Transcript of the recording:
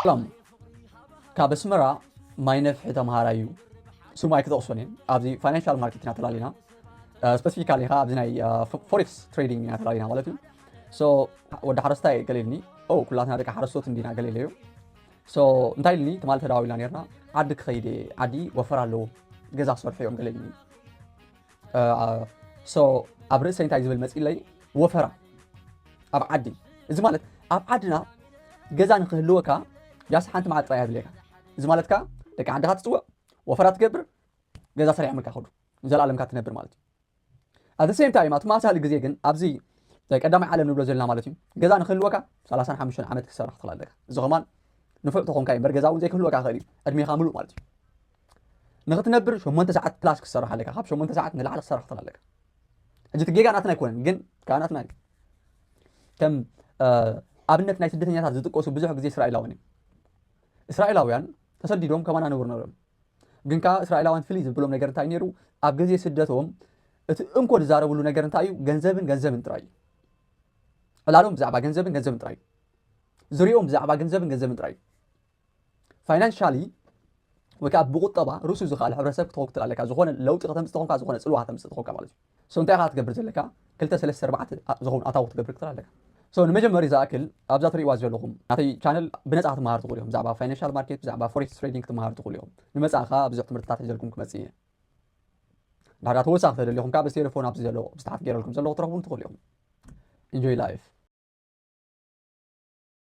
ሰላም ካብ ኣስመራ ማይ ነፍሒ ተምሃራይ እዩ ስሙ ኣይክጠቕሶን እየ ኣብዚ ፋይናንሻል ማርኬት ኢና ተላሊና ስፐሲፊካሊ ኸ ኣብዚ ናይ ፎሬክስ ትሬዲንግ ኢና ተላሊና ማለት እዩ ሶ ወዲ ሓረስታይ ገሊልኒ ኦ ኩላትና ደቂ ሓረስቶት እንዲና ገሊለ እዩ ሶ እንታይ ኢልኒ ትማሊ ተዳዊልና ነርና ዓዲ ክኸይድ እየ ዓዲ ወፈር ኣለዎ ገዛ ክሰርሑ እዮም ገሊልኒ ኣብ ርእሰይ እንታይ ዝብል መፅለይ ወፈራ ኣብ ዓዲ እዚ ማለት ኣብ ዓድና ገዛ ንክህልወካ ጃስ ሓንቲ መዓት ጥራይ ኣድልየካ እዚ ማለት ከዓ ደቂ ዓድኻ ትፅውዕ ወፈራ ትገብር ገዛ ሰሪሖምልካ ከዱ ዘለኣለምካ ትነብር ማለት እዩ ኣብ ሴም ታይም ኣብ ተመሳሳሊ ግዜ ግን ኣብዚ ቀዳማይ ዓለም ንብሎ ዘለና ማለት እዩ ገዛ ንክህልወካ 35 ዓመት ክሰራሕ ትኽእል ኣለካ እዚ ኸማን ንፉዕ ተኾንካ እዩ እምበር ገዛ እውን ዘይክህልወካ ይኽእል እዩ ዕድሜኻ ምሉእ ማለት እዩ ንክትነብር ሸሞንተ ሰዓት ፕላስ ክትሰርሕ ኣለካ ካብ ሸሞንተ ሰዓት ንላዕሊ ክትሰርሕ ክትኽእል ኣለካ ሕጂ እቲ ጌጋ ናትና ኣይኮነን ግን ካብ ናትና እዩ ከም ኣብነት ናይ ስደተኛታት ዝጥቀሱ ብዙሕ ግዜ እስራኤላውያን እዮም እስራኤላውያን ተሰዲዶም ከማና ነብሩ ነሮም ግን ከዓ እስራኤላውያን ፍልይ ዝብሎም ነገር እንታይ ነይሩ ኣብ ግዜ ስደቶም እቲ እንኮ ዝዛረብሉ ነገር እንታይ እዩ ገንዘብን ገንዘብን ጥራይ እዩ ዕላሎም ብዛዕባ ገንዘብን ገንዘብን ጥራይ እዩ ዝሪኦም ብዛዕባ ገንዘብን ገንዘብን ጥራይ እዩ ፋይናንሻሊ ወይ ከዓ ብቁጠባ ርእሱ ዝኸኣለ ሕብረተሰብ ክትኸውን ክትል ኣለካ ዝኾነ ለውጢ ከተምፅእ ተኾንካ ዝኾነ ፅልዋ ከተምፅእ ተኾንካ ማለት እዩ ሶ እንታይ ኢኻ ክትገብር ዘለካ ክልተ ሰለስተ ኣርባዕተ ዝኾኑ ኣታዊ ክትገብር ክትል ኣለካ ሶ ንመጀመሪ ዝኣክል ኣብዛ ትሪእዋ ዘለኹም ናተይ ቻነል ብነፃ ክትመሃር ትኽእሉ እዮም ብዛዕባ ፋይናንሻል ማርኬት ብዛዕባ ፎሬክስ ትሬዲንግ ክትመሃር ትኽእሉ እዮም ንመፃእ ከዓ ብዙሕ ትምህርትታት ሒዘልኩም ክመፅእ እየ ዳርጋ ተወሳኺ ተደሊኹም ከዓ ብቴሌፎን ኣብዚ ዘሎ ብዝተሓት ገይረልኩም ዘለኹ ትረኽቡን ትኽእሉ እዮም ኢንጆይ ላይፍ